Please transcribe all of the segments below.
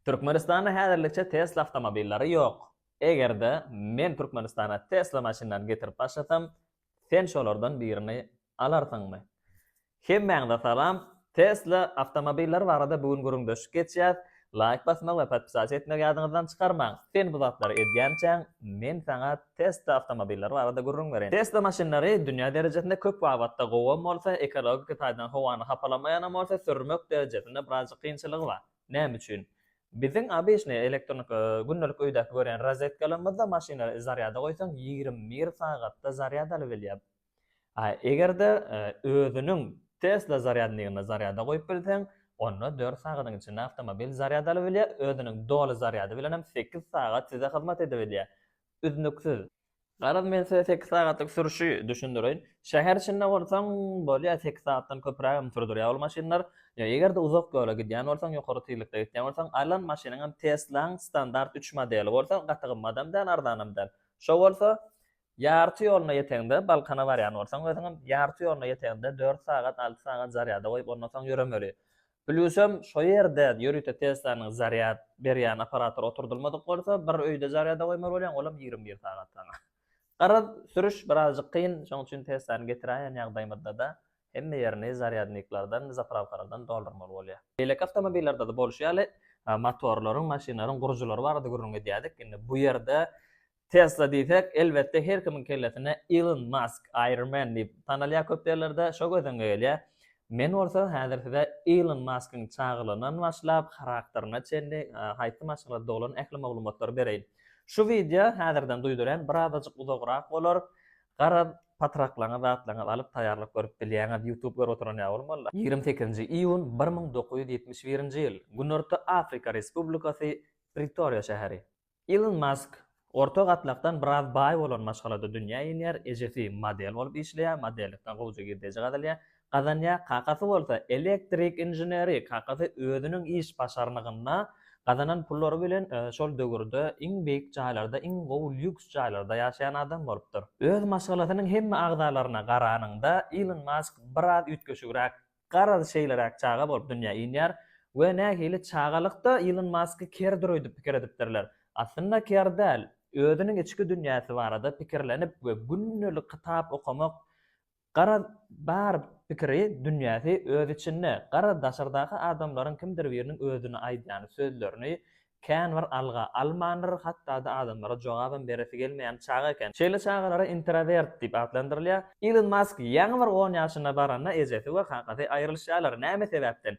Türkmenistanda häzirlikçe Tesla awtomobillary ýok. Eger-de men Türkmenistana Tesla maşynlary getirip başlasam, sen şolardan birini alarsyňmy? Hemmäňize salam, Tesla awtomobillary barada bu gün gürrüňdeşlik geçýäs, laýk basmagy we podpisasiýa etmegi ýadyňyzdan çykarmaň. Sen bu zatlary edýänçäň, men saňa Tesla awtomobillary barada gürrüň bereýin. Tesla maşynlary dünýä derejesinde köp babatda gowam bolsa, ekologiki taýdan howany hapalamaýanam bolsa, sürmek derejesinde birazjyk kynçylygy bar. Näme üçin? Biziň obyçnyý elektroniki gündelik öýdäki görýän rozetkalarymyzda maşyny zarýada goýsaň ýigrimi bir sagatda zarýad alybilýär. A eger-de özüniň Tesla zarýadnigini zarýada goýup bilseň, onda dört sagadyň içinde awtomobil zarýad alybilýär, özüniň doly zarýady bilenem sekiz sagat size hyzmat edibilýär. Üznüksiz. Garaz men size sekiz sagatlyk sürüşi düşündireýin. Şäher içinde bolsaň bolýar sekiz sagatdan köpürägem sürdürýär ol maşynlar. Ýa eger-de uzak ýola gidýän bolsaň, ýokary tizlikde gitýän bolsaň, alan maşynyňam Tesla-nyň standart üç modeli bolsa, gaty gymmadam däl, arzanam däl. Şo bolsa, ýarty ýoluna ýeteňde, Balkana barýan bolsaň özüňem, ýarty ýoluna ýeteňde dört sagat, alty sagat zarýada goýup ondan soň ýöremeli. Plýusem, şo ýerde ýörite Teslanyň zarýad berýän apparatory oturdylmadyk bolsa, bir öýde zarýada goýmaly bolýaň, olam ýigrimi bir sagat saňa. Garaz, sürüş birazjyk kyn, şoň üçin Teslany getiräýen ýagdaýymyzda-da hemme ýerini zarýadniklerden, zapravkalardan doldurmaly bolýar. Beýleki awtomobillerde-de bolşy ýaly, motorlaryň, maşynlaryň gurujylary barada gürrüň edýärdik. Indi bu ýerde Tesla diýsek, elbetde, her kimiň kellesine Ilon Mask, Iron Man diýip tanalýar köp ýerlerde, şo göz öňe gelýär. Men bolsa häzir size Ilon Maskyň çagalygyndan başlap, harakteryna çenli, haýsy maşgalada doglan ähli maglumatlary bereýin. Şu wideo häzirden duýdurýan birazajyk uzagrak bolar. Garaz, patraklaňyz, zatlaňyz alyp taýýarlap görüp bilýäňiz. Youtube görüp oturan ýaly bolmaly-la. Ýigrimi sekizinji iýun, bir müň dokuz ýüz ýetmiş birinji ýyl. Günorta Afrika Respublikasy, Pritoriýa şäheri. Ilon Mask orta gatlakdan biraz baý bolan maşgalada dünýä inýär, ejesi model bolup işleýär, modellikden gowja girdeji gazanýar, gazanýar, kakasy bolsa elektrik inženeri, kakasy özüniň iş başarnygynda gazanan pullary bilen şol döwürde iň beýik jaýlarda, iň gowy lýuks jaýlarda ýaşaýan adam bolupdyr. Öz maşgalasynyň hemme agzalaryna garanyňda Ilon Mask biraz üýtgeşigräk garaz şeýleräk çaga bolup dünýä inýär we nähili çagalykda Ilon Masky kerdir öýdüp pikir edipdirler. Aslynda ker däl, özüniň içki dünýäsi barada pikirlenip we gündelik kitap okamak garaz bar pikiri dünýäsi öz içinde, garaz daşardaky adamlaryň kimdir biriniň özüne aýdýan sözlerini Känbir alga almandyr, hatda-da adamlara jogabam beresi gelmeýän çaga eken. Şeýle çagalara introwert diýip atlandyrylýar. Ilon Mask ýaňy bir on ýaşyna baranda ejesi we kakasy aýrylyşýarlar. Näme sebäpden?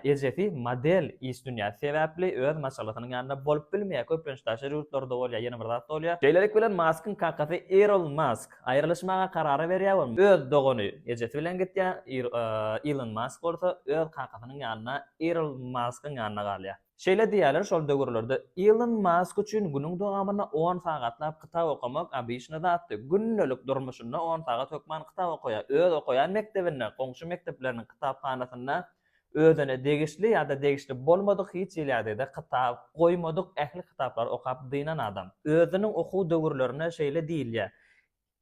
Ejesi model iş dünýäsi sebäpli öz maşgalasynyň ýanynda bolup bilmeýär. Köplenç daşary ýurtlarda bolýar, ýene bir zat bolýar. Şeýlelik bilen Maskyň kakasy Irl Mask aýrylyşmaga karar berýär we öz dogany ejesi bilen gitýär. Ilon Mask bolsa öz kakasynyň ýanynda Irl Maskyň ýanynda galýar. Şeýle diýýärler, şol döwürlerde Ilon Mask üçin günüň dowamynda on sagatlap kitap okamak obyçny zatdy. Gündelik durmuşynda on sagat hökman kitap okaýar. Öz okaýan mekdebinde, goňşy mekdepleriniň kitaphanasynda özüne degişli ýa-da degişli bolmadyk hiç ýylýadede kitap goýmadyk ähli kitaplary okap dynan adam. Özüniň okuw döwürlerine şeýle diýilýär,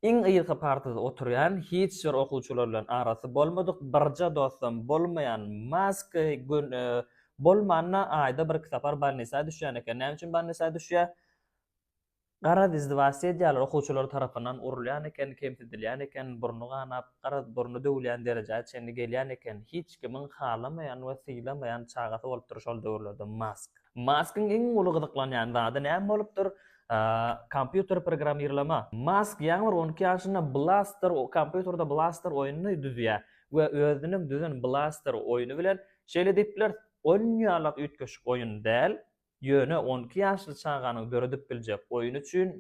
Iň yzky partada oturýan, hiç bir okuwçylar bilen arasy bolmadyk, birje dostam bolmaýan Mask gün bolmanda aýda birki sapar bolnisa düşýän eken. Näme üçin bolnisa düşýär? Garaz izdewast edýärler, okuwçylar tarapyndan urulýan eken, kemsidilýän eken, burny ganap, garaz burny döwülýän derejä çenli gelýän eken. Hiç kimiň halamaýan we sylamaýan çagasy bolupdyr şol döwürlerde Mask. Maskyň iň uly gyzyklanýan zady näme bolupdyr? Kompýuter programmirlama. Mask ýaňy bir on iki ýaşynda Blaster kompýuterde Blaster oýnuny düzýär we özüniň düzen Blaster oýny bilen, şeýle diýip bileris, oýun ýalak üýtgeşik oýun däl, ýöne on iki ýaşly çaganyň döredip biljek oýny üçin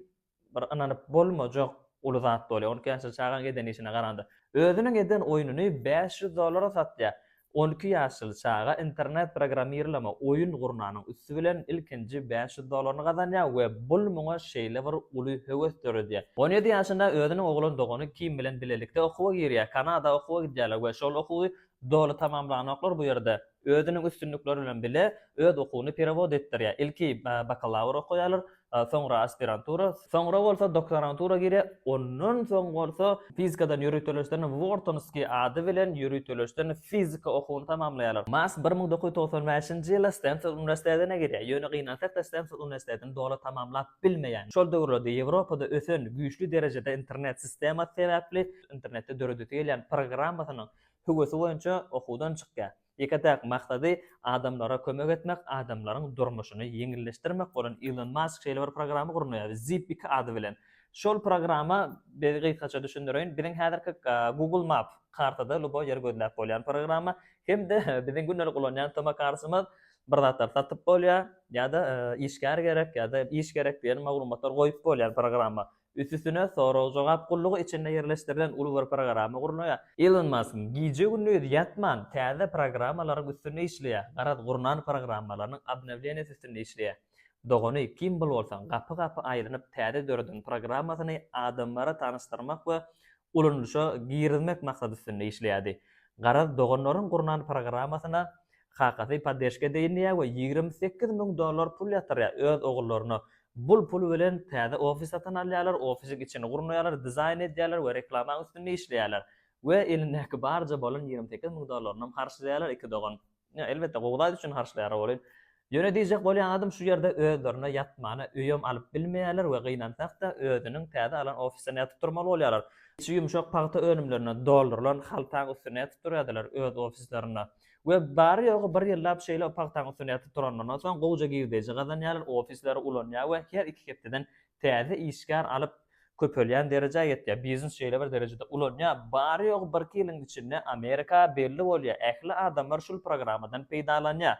bir ynanyp bolmajak uly zat bolýar, on iki ýaşly çagaň eden işine garanda. Özüniň eden oýnuny bäş ýüz dollara satýar. On iki ýaşly çaga internet programmirleme oýun gurnanyň üsti bilen ilkinji bäş ýüz dollaryny gazanýar we bul muňa şeýle bir uly höwes döredýär. On ýedi ýaşynda özüniň oglan dogany Kim bilen bilelikde okuwa girýär. Kanada okuwa gidýärler we şol okuwy doly tamamlanoklar bu ýerde özüniň üstünlikleri bilen bile öz okuwyny perewod etdirýär. Ilki bakalawr okaýarlar, soňra aspirantura, soňra bolsa doktorantura girýär, ondan soň bolsa fizikadan ýöriteleşden Wortonskiý ady bilen ýöriteleşden fizika okuwyny tamamlaýarlar. Mass bir müň dokuz ýüz togsan bäşinji ýyly Stenford uniwersitetine girýär, ýöne gynansak-da Stenford uniwersitetini doly tamamlap bilmeýär. Şol döwürlerde Ýewropada ösen güýçli derejede internet sistemasy sebäpli internetde döredesi gelýän programmasynyň höwesi boýunça okuwdan çykýar. Ýeke-täk maksady adamlara kömek etmek, adamlaryň durmuşyny ýeňilleşdirmek bolan Ilon Mask şeýle bir programma gurnaýar, Zip iki ady bilen. Şol programma, biz gysgaça düşündireýin, biziň häzirki Google Map, kartada luboý ýeri gözläp bolýan programma, hem-de biziň gündelik ulanýan tomokartymyz, bir zatlar satyp bolýar, ýa-da işgär gerek, ýa-da iş gerek diýen maglumatlar goýup bolýan programma. Üsüstüne sorag-jogap gullugy içinde ýerleşdirilen uly bir programa gurnaýar. Ilon Mask gije-gündiz ýatman täze programmalaryň üstünde işleýär. Garaz, gurnan programmalarynyň obnowleniýasy üstünde işleýär. Dogany Kimball bolsa gapy-gapy aýlanyp täze döreden programmasyny adamlara tanyşdyrmak we ulanylyşa girizmek maksady üstünde işleýärdi. Garaz, doganlaryň gurnan programmasyna kakasy poddeşka edeýin diýýär we ýigrimi sekiz müň dollar pul ýatyrýar öz ogullaryna Bul pul bilen täze ofis satyn alýarlar, ofisiň içini gurnaýarlar, dizaýn edýärler we reklamaň üstünde işleýärler. We elindäki barja bolan ýigrimi sekiz müň dollaryny harçlaýarlar iki dogan. Ýa, elbetde, gowy zat üçin harçlaýarlar welin. Ýöne diýjek bolýan zadym şu ýerde özlerine ýatmana öýem alyp bilmeýärler we gynansak-da, özüniň täze alan ofisinde ýatyp turmaly bolýarlar. Içi ýumşak pagta önümlerine doldurylan haltaň üstünde ýatyp turýardylar öz ofislerinde. We bary-ýogy bir ýyllap şeýle pagtaň üstünde ýatyp duranlaryndan soň gowja girdeji gazanýarlar, ofisleri ulanýar we her iki hepdeden täze işgär alyp köpelýän derejä ýetýär. Biznes şeýle bir derejede ulanýar, bary-ýogy birki ýylyň içinde Amerika belli bolýar, ähli adamlar şul programmadan peýdalanýar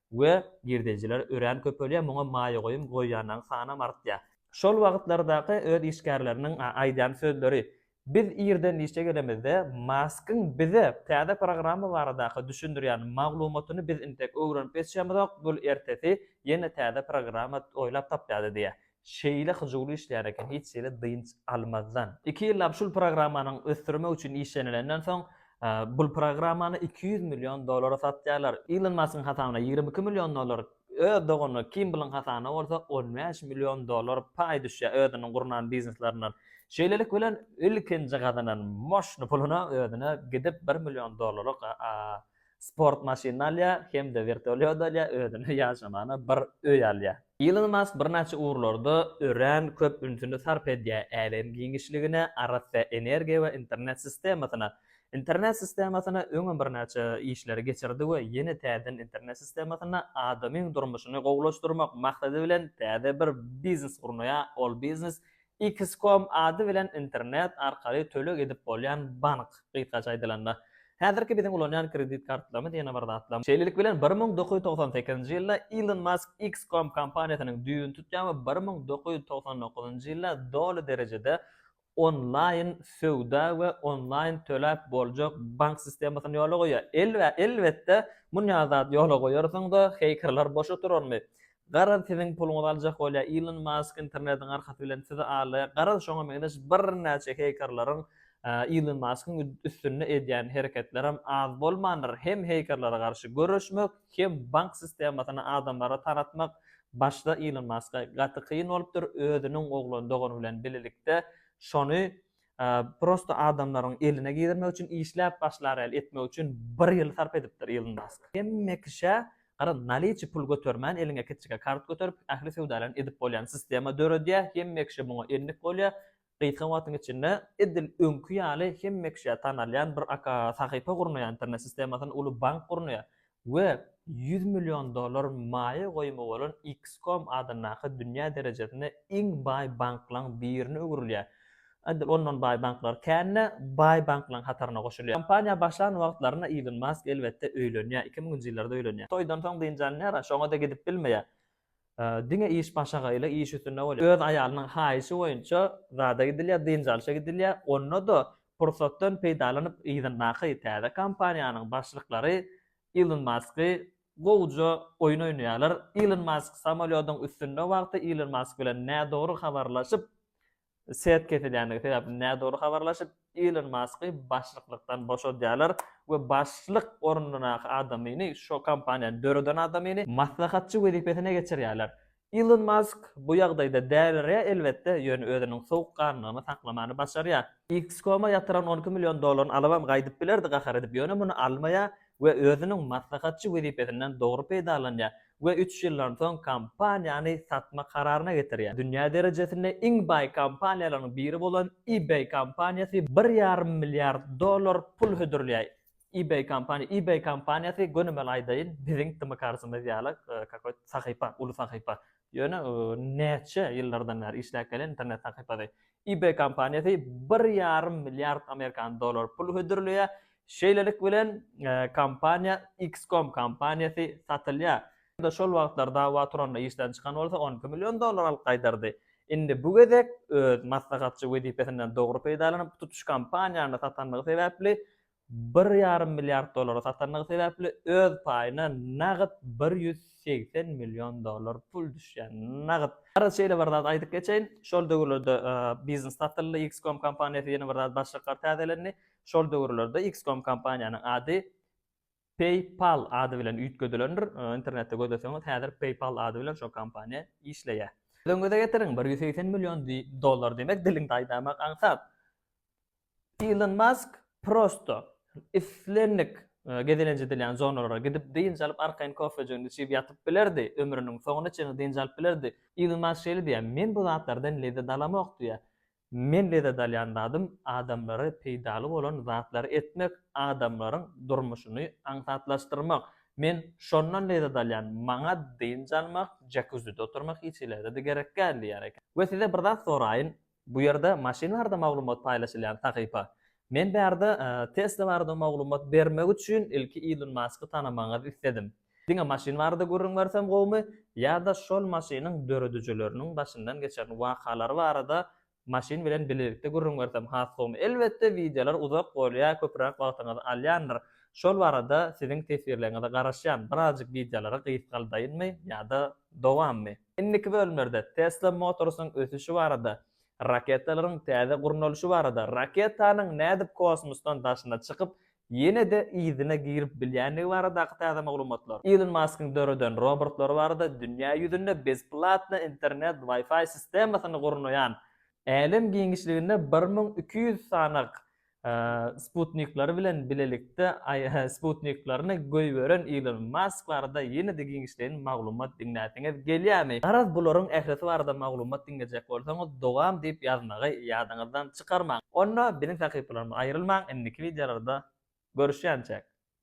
we girdejiler örän köpelýär, muňa maýa goýum goýýanlaryň sanam artýar. Şol wagtlardaky öz işgärleriniň aýdýan sözleri, Biz irden işe gelemizde Maskyň bize täze programma baradaky düşündirýän maglumatyny biz intek öwrenip geçýämizok, bul ertesi ýene täze programma oýlap tapýardy diýýär. Şeýle hyjuwly işleýär eken hiç hili dynç almazdan. Iki ýyllap şul programmanyň ösdürmek üçin işlenilenden soň, bul programmany iki ýüz million dollara satýarlar. Ilon Maskyň hasabyna ýigrimi iki million dollar Öz dogany Kimblyň hasabyna bolsa on bäş million dollar paý düşýär özüniň gurnan bizneslernden. Şeýlelik bilen ilkinji gazanan moşny puluna özüne gidip bir million dollarlyk sport maşynyny alýar hem-de wertolýot alýar, özüne ýaşamaga bir öý alýar. Ilon Mask birnäçe ugurlarda örän köp ünsüni sarp edýär, älem giňişligine, arassa energiýa we internet sistemasyna. Internet sistemasyna öňem birnäçe işleri geçirdi we ýene täzeden internet sistemasynda adamyň durmuşyny gowulaşdyrmak maksady bilen täze bir biznes gurnaýar, ol biznes X-Com ady bilen internet arkaly töleg edip bolýan bank, gysgaça aýdylanda, häzirki biziň ulanýan kredit kartlarymyz ýene bir zatlar. Şeýlelik bilen, bir müň dokuz ýüz togsan sekizinji ýylda Ilon Mask X-Com kompaniýasynyň düýbüni tutýar we bir müň dokuz ýüz togsan dokuzynjy ýylda doly derejede onlaýn söwda we onlaýn töläp boljak bank sistemasyny ýola goýýar. Elbetde, munýa zat ýola goýarsyňyz-a, heýkerler boş oturarmy? Garaz, siziň puluňyzy aljak bolýar Ilon Mask, internetiň arkasy bilen sizi alýar. Garaz, şoňa meňzeş birnäçe heýkerleriň Ilon Maskyň üstünde edýän hereketlerem az bolmandyr. Hem heýkerlere garşy göreşmek, Hem bank sistemasyny adamlara tanatmak başda Ilon Maska gaty kyn bolupdyr, özüniň oglan dogany bilen bilelikde şony prosto adamlaryň eline girmek üçin işläp başlar ýaly etmek üçin bir ýyl sarp edipdir Ilon Mask. Hemme kişä gara naliçi pul götermän eliňe kiçijik kart göterip ähli söwdalaryny edip bolýan sistema döredýär, hemme kişi muňa endik bolýar, gysga wagtyň içinde edil öňki ýaly hemme kişä tanalýan bir aka sahypa gurnaýar, internet sistemasyny uly bank gurnaýar we ýüz million dollar maýa goýumy bolan X-Com adyndaky dünýä derejesinde iň baý banklaň birine öwrülýär. Edil ondan baý banklar kän-de, baý banklaň hataryna goşulýar. Kompaniýa başlan wagtlarynda Ilon Mask elbetde öýlenýär, iki müňünji ýyllarda öýlenýär. Toýdan soň dynç alynýar-a, şoňa-da gidip bilmeýär. Diňe iş başagaýly, iş üstünde bolýar. Öz aýalynyň haýyşy boýunça zada gidilýär, dynç alşa gidilýär. Onda-da pursatdan peýdalanyp, yzyndaky täze kompaniýanyň başlyklary Ilon Masky gowuja oýun oýnaýarlar. Ilon Mask samolýodyň üstünde wagty Ilon Mask bilen nädogry habarlaşyp, Set kesilýändigi sebäpli nädogry habarlaşyp, Ilon Masky başlyklykdan boşadýarlar we başlyk ornundaky adamyny, şo kompaniýany döreden adamyny maslahatçy wezipesine geçirýärler. Ilon Mask bu ýagdaýda dälirýär elbetde, ýöne özüniň sowukganlygyny saklamany başarýar. X-koma ýatyran on iki million dollaryny alybam gaýdyp bilerdi gahar edip, ýöne muny almaýar we özüniň maslahatçy wezipesinden dogry peýdalanýar. we üç ýyldan soň kompaniýany satmak kararyna getirýär. Dünýä derejesinde iň baý kompaniýalaryň biri bolan eBay kompaniýasy bir ýarym milliard dollar pul hödürleýär. eBay kompaniýa eBay kompaniýasy gönümel aýdaýyn biziň dymykarsymyz ýaly kakoýt sahypa uly sahypa ýöne näçe ýyllardan bäri işläp gelen internet sahypasy eBay kompaniýasy bir ýarym milliard amerikan dollary pul hödürleýär. Şeýlelik bilen, kompaniýa XCOM kompaniýasy satylýar. Şol wagtlar dawa Tronna işden çykan bolsa, on iki million dollar alyp gaýdardy. Indi bu gezek öz maslahatçy wezipesinden dogry peýdalanyp, tutuş kompaniýany satandygy sebäpli, bir ýarym milliard dollara satandygy sebäpli öz paýyna nagt bir ýüz segsen million dollar pul düşýär. Nagt. Garaz şeýle bir zat aýdyp geçeýin, şol döwürlerde biznes satyldy, X-Com kompaniýasy ýene bir zat başlyklar täzelendi. Şol döwürlerde X-Com kompaniýanyň ady PayPal ady bilen üýtgedilendir. Internetde gözleseňiz häzir PayPal ady bilen şo kompaniýa işleýär. Özüňize getiriň, bir ýüz segsen million dollar diýmek diliňde aýdamak aňsat. Ilon Mask prosto islendik gezelenç edilýän zonalara gidip dynç alyp arkaýyn kofejigini içip ýatyp bilerdi, ömrüniň soňuna çenli dynç alyp bilerdi. Ilon Mask şeýle diýýär, Men bu zatlardan lezzet alamok diýýär. Men lezzet alýan zadym adamlara peýdaly bolan zatlary etmek, adamlaryň durmuşyny aňsatlaşdyrmak. Men şondan lezzet alýan, maňa dynç almak, jakuzide oturmak hiç hili-de gerekgäl diýýär eken. We size bir zat soraýyn, Bu ýerde maşyn barada maglumat paýlaşylýan sahypa. Men bärde Tesla barada maglumat bermek üçin ilki Ilon Masky tanamagyňyzy isledim. Diňe maşyn barada gürrüň bersem gowumy ýa-da şol maşynyň döredijileriniň başyndan geçen wakalary barada maşyn bilen bilelikde gürrüň bersem has gowumy? Elbetde wideolar uzak bolýar, köpräk wagtyňyzy alýandyr. Şol barada siziň teswirleriňize garaşýan. Birazjyk wideolary gysgaldaýynmy ýa-da dowammy? Indiki bölümlerde Tesla Motors-yň ösüşi barada, raketalaryň täze gurnalyşy barada, raketanyň nädip kosmosdan daşyna çykyp, ýene-de yzyna girip bilýändigi baradaky täze maglumatlar, Ilon Maskyň döreden robortlary barada, dünýä ýüzünde bezplatny internet Wi-Fi sistemasyny gurnaýan, älem giňişliginde bir müň iki ýüz sanagyk sputnikleri bilen bilelikde sputniklaryny goýberen Ilon Mask barada ýene-de giňişleýin maglumat diňläsiňiz gelýärmi? Garaz bularyň ählisi barada maglumat diňlejek bolsaňyz dowam diýip ýazmagy ýadyňyzdan çykarmaň. Onda biziň sahypalarymyzdan aýrylmaň indiki wideolarda görüşýänçäk.